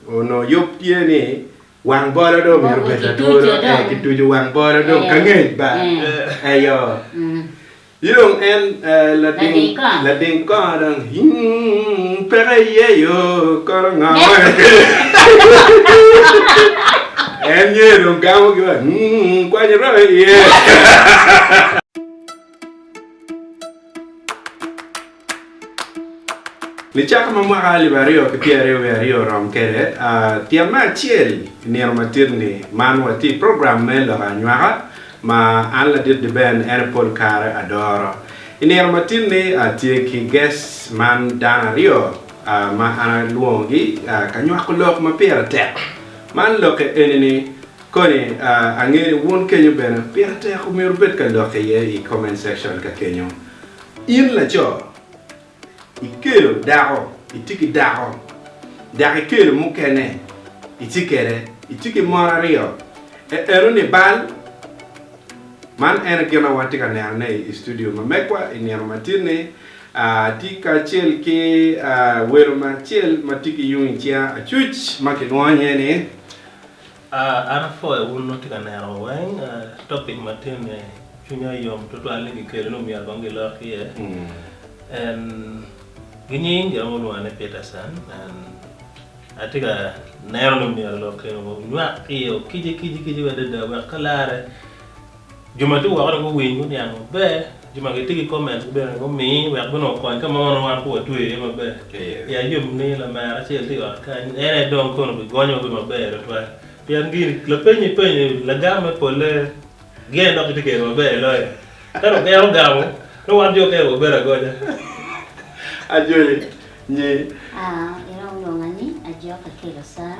Onongo yub tye ni wang bolo dong omyero obed latwolo, ee, kituco wang bolo dong ka ngec ba, eyo, ci dong en lading kongo dong, Hing, peke iye yo, kono ngo ma en nyo dong gamo ki wa, Hing, kwany oromo iye. Nicaka ma mwaka alip aryo ki pyeraryo wiye aryo orom kwede, tyen me acel i nino matidi-ni, man watye i program me lok anywaka ma an ladit Deben en pol kare adoro. I nino matidi-ni, atye ki gec man dano aryo ma an alwongogi ka nywako lok ma pire tek. Man lokke eni ni, Koni angeyo wun kenyo bene pire tek omyero wubed ka lok iye i comment section ka kenyo. In laco ikelo dako itye ki dako dok ikelo mukene itye kede itye ki mon aryo e eno ni bal? Man ene gin ma watye ka neno ne i studio ma megwa i nino ma tin ni atye kacel ki welo ma acel ma tye ki yung i cinga acuc ma kilwongo nye ni A An apwoyo wun ma wutye ka neno wa weng. Topic ma tye ni cwinya yom tutwal ni gikelo ni omyero kong gilok iye. En ginying jo mo lwonga ni Peterson and atye ka neno ni omyero lok keno onywak iye okiji kiji kiji adada wek ka lare Jo ma tye woko dong guwiny, guniang maber. Jo ma gitye ki comment gi bene gumi wek bene okony ka ma onongo wan pe watweyo iye maber. Pi ayub ni, lamera acel tye i ot kany, en aye dong kono bigonyowa bedo maber tutwal. Pien gin lapeny ipenyo lagam me polle gin aye dok gitye kede maber i loyo. Ka dong en ogamo, nongo wan jo okene wabedo agoca. Ajony, nyi. Iromo lwonga ni, Ajok, Akelo Sara.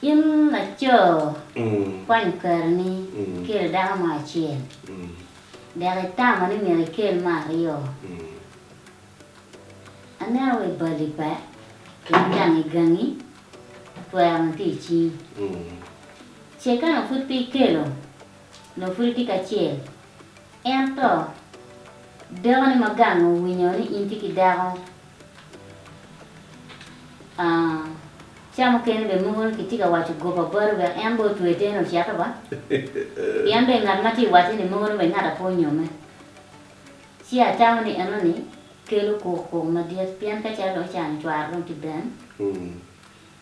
In laco, kwany karini ikelo dako mo acel, dek itamo ni myero ikel me aryo. Aneno wa i bali pe pien gangi gangi twero ma tye i cingi. Ce ka nongo pud pe ikelo, nongo pud itye ki acel, ento dakoni ma gangi owinyo ni in itye ki dako Ca mukene bene moko ni kitye ka waco goba bati wek en bene otwe teni ocito ba. Pien dong ngat ma tye ka wace ni mogo ni wek ngat ape onyome. Ci atamo ni enoni kelo kukuk madit pien ka calo dong ocano cware dong tye ben.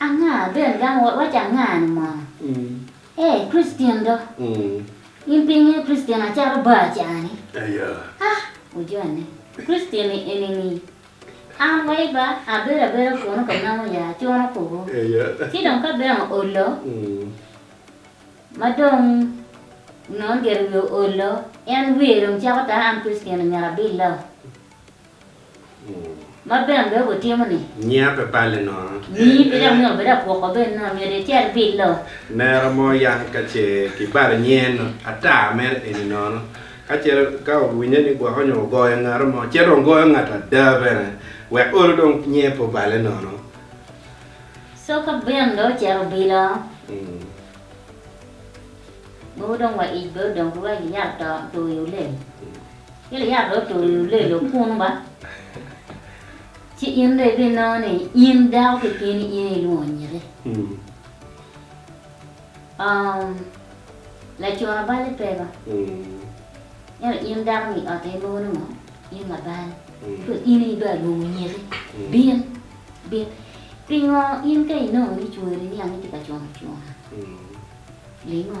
Anga bene dang wawac anga-ni mo? Ee, Kricityen do. In pe ingeyo Kricityen acato bar ca-ni? Ha! Wujone. Kricityen-ni eni-ni, An wa i bar, abedo abeda kunu ka namo ya acuno kuku. Ci dong ka bene oolo, ma dong nongo gire wiye oolo, en wiye dong cako tar, an Kricityen-ni myero abille-o. Ma ben be wutimo ni. Nyia pe balle nono. Nyii pe dok nyo bed apwoko ben nono myero icer bilo. Nera mo yam ka ce ki balo nyen no ata mere eni nono ka ce ka owinye ni gwoko nyo ogoyo ngatu mo ce dong goyo ngatu ada bene wek olo dong nyie pe oballe nono. So ka ben be ocero bilo mogo dong wa ic be odong ki wek iyat to i wi lel. Giliat dong otululu lelo kunnu ba, ci in dong ibinongo ni in dako kekeni in aye ilwongo nyiti. Oomm, lacona balli pe ba, ento in dako ma i ot aye inongo ni ngo, in labal, ci dong in aye ibin alwongo nyiti, bin, bin. Pingo in ka inongo ni cwari niang ni tye ka cono cona? Lingo.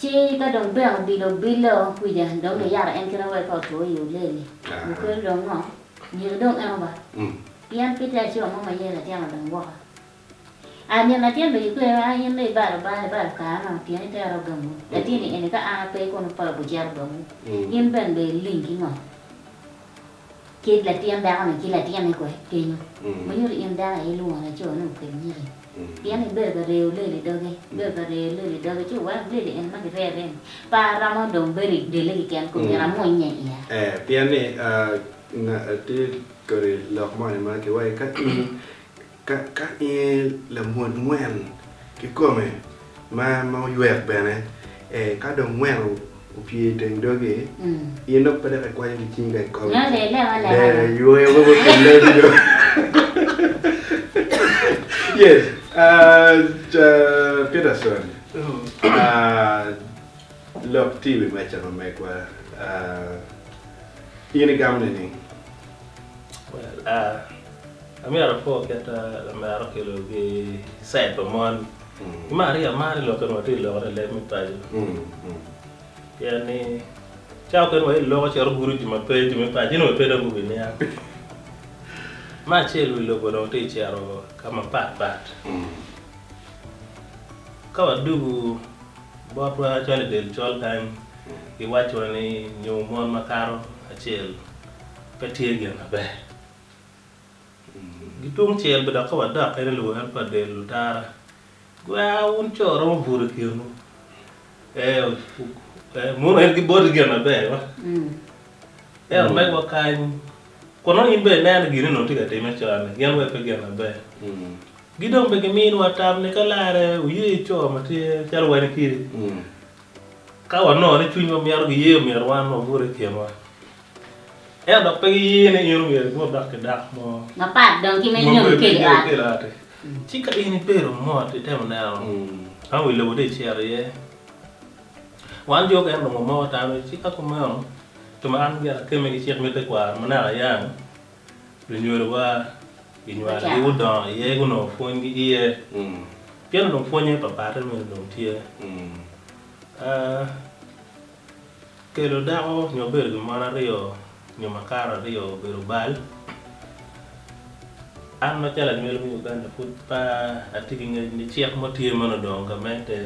Ci ka dong Bek obilo obilo kwija, dong giyaro en kite wek pe otwo i olel-li. Gukelo dong ngo? Myero dong en oba, pien pe tye acura mo ma ye latin odong woko. A nyen latin bene gikwer ni, A in dong ibalo Lubanga, ibalo kare-nu, pien itero ogamwu. Latin-ni eni ka an ape, kono pe obiceto ogamwu. In bene dong iling ki ngo? Kit latin dako-ni ki latinne kwe kenyo ma nyuto in dako aye ilwongo laco ni okel nyiki pien ibedo ka reyo lel i doge, ibedo ka reyo lel i doge ci weko lel eni ma kireyone-ni pe aromo dong bedo i delle keken kong myero amunnye iya. Ee, pien ni, nga, tye kodi lok moni ma kiwaci ka in Ka inge lamwod ngwen kikome ma oywek bene ee ka dong ngwen opye iteng dogi in dok pe dok ikwanyo ki cingi ka ikome lee ywoyo mogo otum lee ni dong yes Peterson lok tye iwi meca ma megwa in igamo nining? Amyero apor kit ma amero ki lok ki cid pa mon. Imar rii amar ni lok kene wa tye ka lokone i leb me paco. Pien ni cawa mukene wa iloko cito gudo jo ma pe jo me paco inongo pe dong gubi niang. Me acel wi lobo dong tye ka cito ka ma pat pat. Ka wa dugu botwa calo i del col kany gi waco wa ni nyo mon ma kato acel pe tye gin ma ber. Ki tung cel bene dok ka wadokke ni luwero pa del lutara, gwer wun co romo buto i kinwu. Ee, mono en giboti gin maber ma? Ento omegwa kany, kun nongo in bene ineno gin onongo itye ka timme con-ni, gin weny pe gin maber. Ki dong bene gimiwa tam ni ka larre wuye co ma tye calo wani kidi, ka wanongo ni cwinywa mito giyeyo myero wan wabut i kinwa. Ento dok pe giye ni in omyero ibut dok ki dako mo mapat dong ki me nyomi pi kelo ot. Ci ka in ibedo mot, itemo neno ma wi lobo dong icito iye. Wan jo okene onongo moko tammi, ci ka kumeno, jo ma an gire akemme ki cik me tekwaro ma naka ayang, lunyodowa ginywalo gi gudongo iye, gunongo pwony ki iye. Pien onongo pwonye papatte meno dong tye. Kelo dako nyo bedo gi mon aryo nyo makato aryo obedo bal. An macalo anywelo me Uganda pud pe atye ki ngec ni cik mo tye ma onongo odongo gamente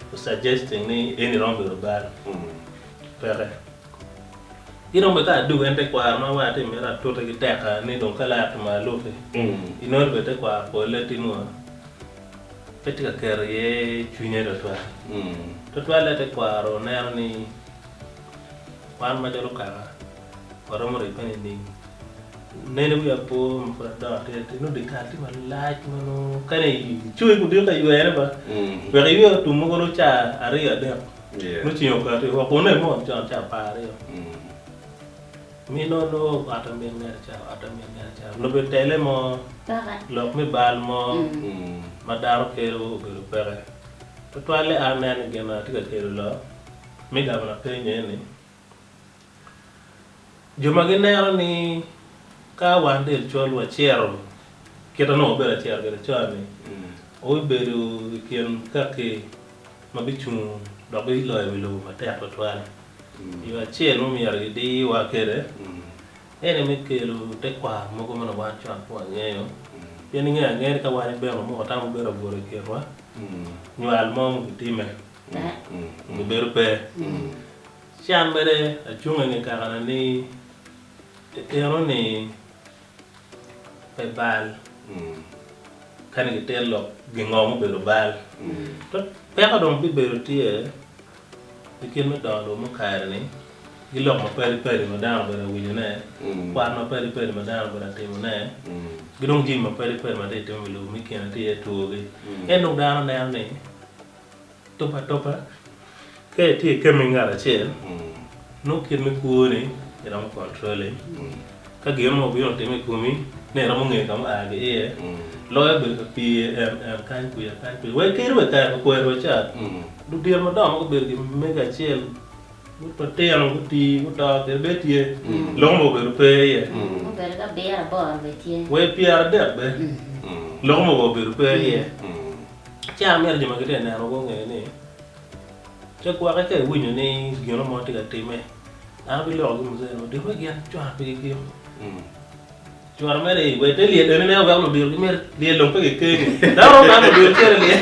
to suggesting ni eni romo bedo bal. Peke. Ki dong bene ka adwogo en tekwaro ma war atye ka mito atute ki tekka ni dong ka laro tumalo aluki, inongo ni bene tekwaro polle timo. Pe tye ka keto iye cwinye twatwal. Twatwalle tekwaro neno ni wan macalo okanga waromo ribbe nining? Nen i wi apo ma pud adongo atir atir nongo dyekal tye malac ma nongo kene icoyo ki odiko iywene ba wek iywe otum mogo nongo ca aryo adek nongo ceng okati woko. Kun nen mot con ca apar aryo. Mi nongo lub ot amin ngete ca, ot amin ngete ca, lub i tele mo, lok me bal mo ma dano kelo obedo peke. Tutwalle an nen ni gin atye ka kelo lok mi gavana penyo aye ni, Jo ma gineno ni ka wan del col waciro kit anongo wabedo ka ciro kwede con-ni, wubibedo i kin kaki ma bicung dok biloyo wi lobo matek tutwal. Yo acel ma myero gidiwa kwede en aye me kelo tekwaro mogo ma wan cok pe wangeyo. Pien ingeyo angeya ni ka wan ibino mo tamo obedo abwor i kinwa, nywal mo ma obitime nyo bedo pe. Can mere acungo i nge kakane ni, Itino ni pe bal. Kani gitito lok gingo mubedo bal. To peko dong bibedo tye i kit me dongo lobo mukare ni gi lok mapadi padi ma dano obedo ka winyo ne, kwan mapadi padi ma dano obedo ka timo ne, ki dong jami mapadi padi ma tye ka timone i lobo mukene tye iye two gi. En dong dano neno ni. Tub atuba, Ka itye i kembi ngat acel, nongo kit me kwoni iromo controle. Ka gin mo obino otimme i komi, ni iromo ngeyo ka ma oa ki iye, loyo bedo ka pye en en kany kwiya kany kwiya. Wek kadi wa i kare pa kwerewa ca, ludito madongo ma gubedo ki mego acel, bot matino gutii, guto kede bene tye. Lok mogo obedo pe iye. Obedo ka abiro aboro bene tye. Wa i pyera adek bene, lok mogo obedo pe iye. Ci an amito jo ma gitye ka nena gunge ni, Pe gwokke ka iwinyo ni gino mo tye ka timme, an abiloko gi Muzene odiko me gin cwara pe gikiko. Cwara mere aye wek te lyel enine weko ludito gimit lyel dong pe gikenge. Dano romo neno ludito cwere lyel.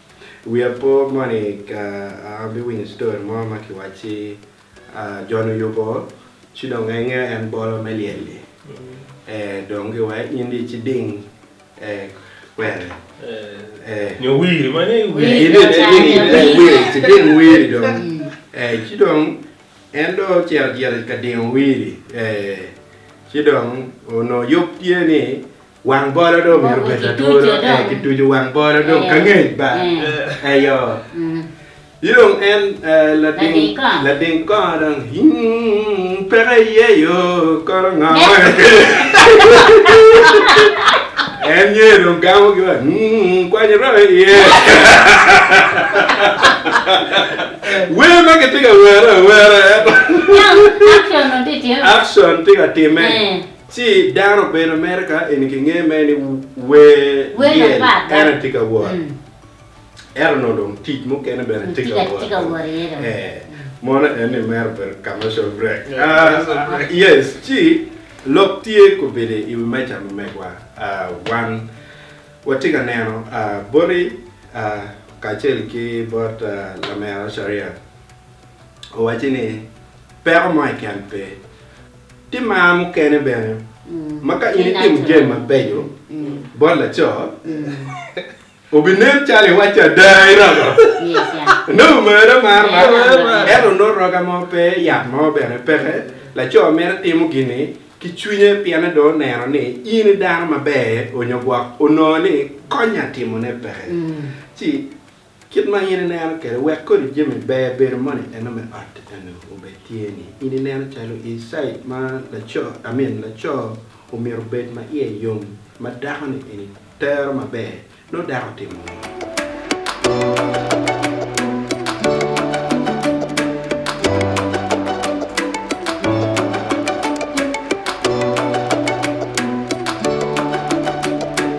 Wiya po moni ka abiwinyo story mo ma kiwacci Jon oyubo ci dong enge en bolo me lyel-li dong giwek in dong iciding kwene nyo wiri ma ni iciding wiri dong ci dong en dong ocito gire ka dingo wiri ci dong onongo yub tye ni Wang bolo do omyero obed latwolo ee ki tucu wang bolo do ka ngec ba eyo ci dong en lading lading kongo dong peke iye yo kono ngo en nge dong gamo ki wa kwany royo iye wer ma kitye ka were awera action tye ka timme Ci dano obedo mere ka eni ki nge mere ni wer lyel en aye tye ka wot. Ento nongo dong tic mukene bene tye ka wot iye dong. Ee, mono en ni mere obedo commercial break. Yes, ci lok tye kobedi i wi meja me megwa. Wan watye ka neno boti kacel ki bot lamera Sharia. Owacci ni peko mo keken pe. Tye mar mukene bene ma ka in itimo jami mabeco bot laco, obinen calo iwacce ada i rogo. Nongo omera mar man. Ento nongo roga mo pe, yat mo bene peke. Laco mere timo gin-ni ki cwinye pien en dong oneno ni in i dano maber onyo gwok onongo ni konye atimone peke. Ci. Kit ma in ineno kwede wek kodi jami ber bedo moni eno me ot eno obed tye ni in ineno calo i cid ma laco I mean laco omyero obed ma iye yom ma dako ni eni tero maber nongo dako otimo ngo?